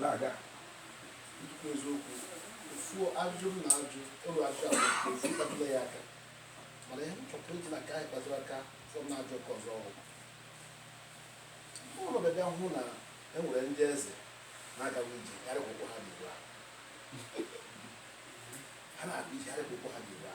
na-aga ikwu eziokwu ofu ajụjụ m na-ajụ ụlọ ajụjụ abụ ofu kpatụla ya aka mana ihe m chọtara iji na ka anyị kpatụrụ aka fọm na-ajụ ọkụ ọzọ ọhụrụ ụlọ bịa hụ na e nwere ndị eze na-agawa ije karịa akwụkwọ ha dị ugbu a ha na-abụ ije karịa akwụkwọ ha dị ugbu a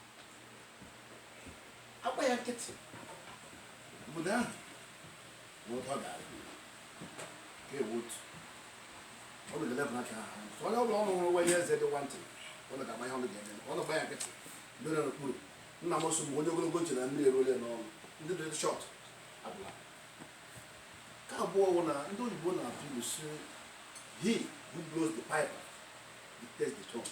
agba ya nkịtị obodo ahụ bụ ụtọ ga-adị ka ewu otu ọ bụ dele bụla ka ha so onye ọbụla ọrụ nwere onye eze dị nwantị ọ na ga-agba ihe ọnụ ga-eme ọ na-agba ya nkịtị mere n'okpuru nna m sị ọ bụ onye ogologo tie na mmiri eruole n'ọnụ ndị dị short abụla ka abụọ wụ na ndị oyibo na-atụ ilu sị he who blows the pipe dictates the tone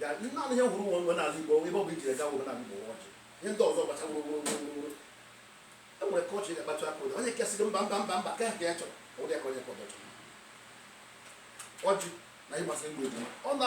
Ya ndị naanị ihe fọrọ n'omenala Igbo ebe ọ bụ i jere gaa omenala Igbo wụ ọjị ihe ndị ọzọ gbacha wụrụ wụrụ wụrụ wụrụ e nwere ka ọjị ga-akpatụ aka ụda onye kesịrị mba mba mba mba ka ha ka ya chọrọ ụdị aka onye ka ọ chọrọ ọjị na ịgbasị mgbe ọ na